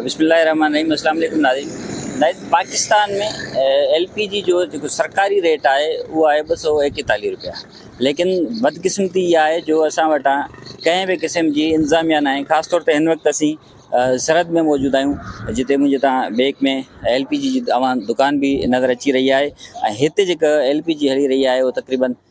بسم الله الرحمٰن الرحيم اسلام عليڪم ناظرين ناظرين پاڪستان ۾ ايل پي جي جو جيڪو سرڪاري ريٽ آهي اهو آهي ٻه سو ايڪيتاليھ روپيا ليڪن بدقسمتي اها آهي جو اسان وٽان ڪنهن به قسم جي انتظاميا ناهي خاص طور تي هن وقت اسين سرحد ۾ موجود آهيون جتي منهنجي تان بيڪ ۾ ايل پي جي جي اوهان دڪان به نظر اچي رهي آهي ۽ هتي جيڪا ايل پي جي هلي رهي آهي اهو تقريبن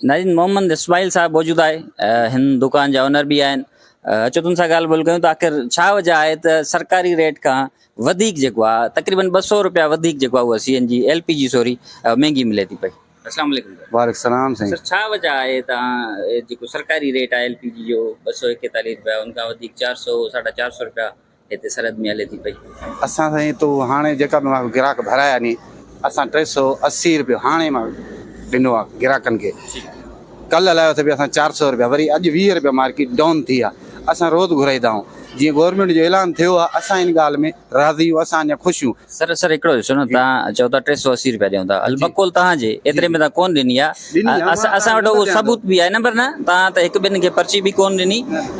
نارين محمد اسماعيل صاحب موجود آهي هن دڪان جا اونر به آهن اچو تن سان ڳالهه ٻولهه ڪيون ته آخر ڇا وجه آهي ته سرڪاري ريٽ کان وڌيڪ جيڪو آهي تقريبن ٻه سؤ روپيا وڌيڪ جيڪو آهي اها C N G L P G sorry مهنگي ملي ٿي پئي السلام عليڪم وعليڪم السلام سائين سر ڇا وجه آهي ته جيڪو سرڪاري ريٽ آهي ايل پي جي جو ٻه سؤ ايڪيتاليهه روپيا ان کان وڌيڪ چار سؤ ساڍا چار سؤ روپيا هتي سرحد ۾ هلي ٿي پئي. اسان سائين تو هاڻي جيڪا به مان گراهڪ ڀرايا ني اسان ٽي سو اسي روپيو هاڻي مان ڏنو آ گراهڪن کي ڪل هلايو اٿي به اسان چار سو روپيا وري اڄ ويهه روپيا مارڪيٽ ڊون ٿي آ اسان روز گهرائيدا آهون جيئن گورنمينٽ جو اعلان ٿيو آ اسان ان ڳالهه ۾ راضي آهيون اسان اڃا خوش آهيون. سر سر هڪڙو ڏسو نه تهان چئو ٿا ٽي سو اسي روپيا ڏيون ٿا هل بقول تهان جي ايتري ۾ تهان ڪون ڏني آ اسان وٽ اهو ثبوت به آهي نه پر نه توهان ته هڪ ٻن کي پرچي به ڪونه ڏني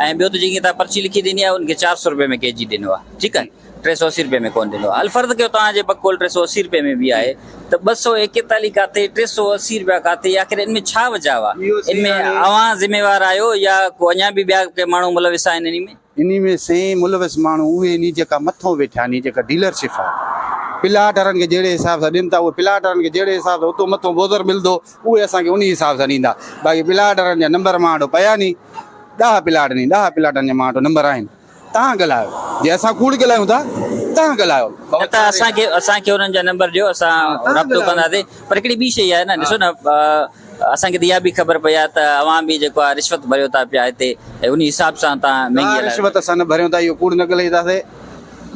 ۽ ٻيو ته جن کي توهان پرچي لکي ڏني آهي ان کي چار سؤ روپيه ۾ ڪي جي ڏنو آهي ٺيڪ آهي ٽي سؤ اسي روپيه ۾ ڪونه ڏنو آهي الفرض ڪيو توهان جي بقول ٽي سؤ اسي روپيه ۾ به آهي ته ٻه سؤ ايڪيتاليهه ڪاٿي ٽي سؤ اسي روپيا ڪاٿي آخر ان ۾ ڇا وجهه آهي ان ۾ اوهان ذميوار آهيو يا ڪو اڃا به ٻيا ڪي ماڻهو ملوث آهن ان ۾ انهي ۾ سين ملوث ماڻهو اهي آهن جيڪا مٿو ويٺا آهن جيڪا ڊيلر شپ آهي پلاٽ وارن کي جهڙي حساب سان ڏين ٿا اهي پلاٽ وارن کي جهڙي حساب سان اتو مٿو بوزر ملندو اهي اسان کي انهي حساب سان ڏيندا باقي پلاٽ وارن جا نمبر مان وٽ پيا ني ڏهه پلاٽ ني ڏهه پلاٽن جا مان وٽ نمبر آهن تهان ڳالهايو جي اسان ڪوڙ ڳالهايون ٿا تهان ڳالهايو نه ته اسان کي اسان کي انهن جا نمبر ڏيو اسان رابطو ڪنداسين پر هڪڙي ٻي شئي آهي نه ڏسو نه اسان کي ته اها به خبر پئي آهي ته اوهان به جيڪو آهي رشوت ڀريو ٿا پيا هتي ۽ انهي حساب سان تان مهنگي هلائي. نا رشوت اسان نه ڀريون ٿا اهو ڪوڙ نه ڳلهي ٿا سي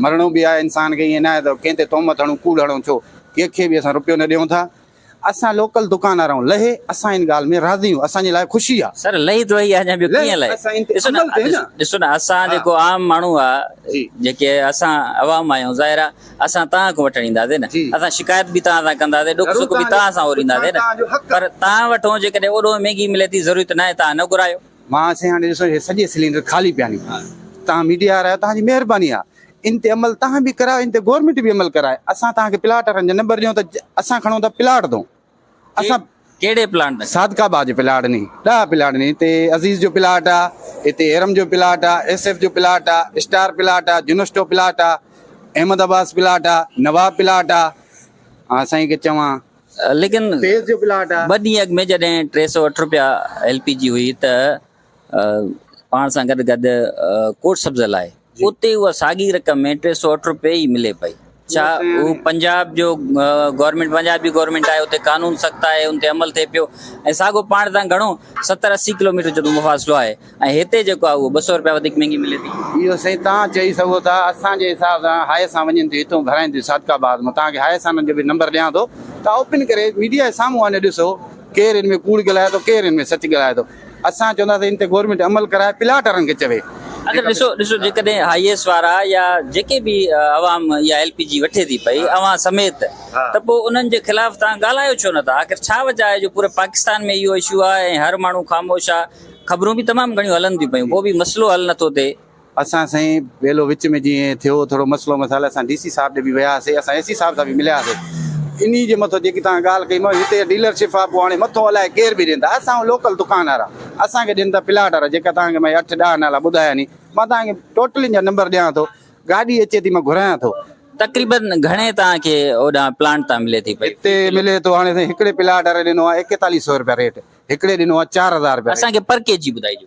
مرڻو به آهي انسان کي ايئن ناهي ته ڪنهن تي تهمت هڻون ڪوڙ هڻون ڇو ڪنهن کي به اسان رپيو نه ڏيون ٿا اسان لوڪل دڪاندار آهيون لهي اسان ان ڳالهه ۾ راضي آهيون اسان جي لاء خوشي آهي. سر لهي ته وهي آهي اڃا ٻيو ڪيئن لهي اسان ان تي ڏسو عمل ٿئي نه ڏسو نه اسان جيڪو عام ماڻهو آهي جيڪي اسان عوام آهيون ظاهر آهي اسان توهان کان وٺڻ اينداسين نه اسان شڪايت به توهان سان ڪنداسين ڏک سک به توهان سان اورينداسين نه پر توهان وٺون جيڪڏهن اوڏهون مهنگي ملي ٿي ضرورت ناهي توهان نه گهرايو. مان سائين هاڻي ڏسو هي سڄي سلينڊر خالي پيا ني توهان ميڊيا وارا آهيو توهان جي مهرباني آ ان تي عمل توهان به ڪرايو ان تي گورمينٽ به عمل ڪرائي اسان توهان کي پلاٽ وارن جا نمبر ڏيون ته اسان کڻون ٿا پلاٽ دون اسان ڪهڙي پلاٽ ۾ صادقه باغ جي پلاٽ ني ڏهه پلاٽ ني هتي عزيز جو پلاٽ آ هتي هيرم جو پلاٽ آ ايس ايف جو پلاٽ آ اسٽار پلاٽ آ جنسٽو پلاٽ آ احمد عباس پلاٽ آ نواب پلاٽ آ ها سائين کي چوان ليڪن فيض جو پلاٽ آ ٻه ڏينهن اڳ ۾ جڏهن ٽي سؤ اٺ رپيا ايل پي جي هئي ته پاڻ سان گڏ گڏ ڪوٽ سبز لاء اتي اها ساڳي رقم ۾ ٽي سو اٺ روپيه ئي ملي پئي ڇا اهو پنجاب جو گورنمنٽ پنجاب جي گورنمنٽ آهي اتي قانون سخت آهي ان تي عمل ٿئي پيو ۽ ساڳو پاڻ تان گھڻو ستر اسي ڪلوميٽر جو مفاصلو آهي ۽ هتي جيڪو آهي اهو ٻه سؤ روپيا وڌيڪ مهنگي ملي ٿي اهو سائين تان چئي سگھو ٿا اسان جي حساب سان هاء سان وڃن ٿي هتون گھرائين ٿي صادق آباد مان تان کي هاء سان جو به نمبر ڏيان ٿو تان اوپن ڪري ميڊيا جي سامهون وڃي ڏسو ڪير ان ۾ ڪوڙ ڳالهائي ٿو ڪير ان ۾ سچ ڳالهائي ٿو اسان چونداسين ان تي گورنمينٽ عمل ڪرائي پلاٽ وارن کي چوي. اگر ڏسو ڏسو جيڪڏهن هائيس وارا يا جيڪي به عوام اها ايل پي جي وٺي ٿي پئي اوهان سميت ته پوء انهن جي خلاف توهان ڳالهايو ڇو نه ٿا آخر ڇا وجه آهي جو پوري پاڪستان ۾ اهو اشو آهي ۽ هر ماڻهو خاموش آهي خبرون به تمام گهڻيون هلن ٿيون پيون پوء به مسئلو حل نه ٿو ٿئي اسان سائين ويلو وچ ۾ جيئن ٿيو ٿورو مسئلو مسائل اسان ڊي سي صاحب ڏي به ويا هئاسي اسان اي سي صاحب سان به مليا هئاسي انهي جي مٿو جيڪي توهان ڳالهه ڪئي مئو هتي ڊيلر شپ آ پوء هاڻي مٿو الائي ڪير به ڏيندا اسان لوڪل دڪان وارا اسان کي ڏين ته پلاٽ وارا جيڪا توهان کي مئي اٺ ڏهه نالا ٻڌايا ني مان توهان کي ٽوٽلين جا نمبر ڏيان ٿو گاڏي اچي ٿي مان گهرايان ٿو تقريباً گهڻي توهان کي اوڏانهن پلاٽ تان ملي ٿي پئي هتي ملي ٿو هاڻي سائين هڪڙي پلاٽ واري ڏنو آ ايڪيتاليهه سئو روپيا ريٽ هڪڙي ڏنو آ چار هزار روپيا اسان کي پر ڪي جي ٻڌائجو.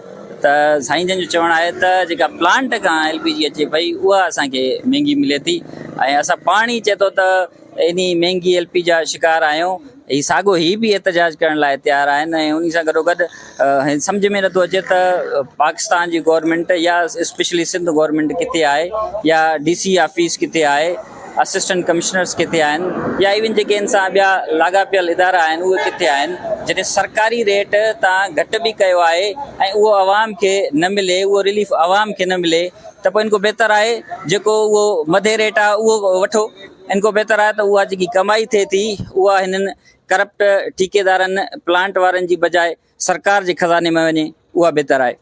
ته سائين جن جو چوڻ آهي ته جيڪا پلانٽ کان ايل پي جي اچي پئي اها اسان کي مهنگي ملي ٿي ۽ اسان پاڻ ئي چئي ٿو ته انهي مهنگي ايل پي جا شڪار آهيون هي ساڳو هي به احتجاج ڪرڻ لاء تيار آهن ۽ انهي سان گڏوگڏ هي سمجهه ۾ نٿو اچي ته پاڪستان جي گورنمينٽ يا اسپيشلي سنڌ گورنمينٽ ڪٿي آهي يا ڊي سي آفيس ڪٿي آهي اسسٽنٽ ڪمشنرز ڪٿي آهن يا ايون جيڪي ان سان ٻيا لاڳاپيل ادارا آهن اهي ڪٿي آهن جڏهن سرڪاري ريٽ تان گهٽ به ڪيو آهي ۽ اهو عوام کي نه ملي اهو رليف عوام کي نه ملي ته پوء ان کان بهتر آهي جيڪو اهو مڌي ريٽ آهي اهو وٺو ان کان بهتر آهي ته اها جيڪي ڪمائي ٿئي ٿي اها هنن ڪرپٽ ٺيڪيدارن پلانٽ وارن جي بجاء سرڪار جي خزاني ۾ وڃي اها بهتر آهي.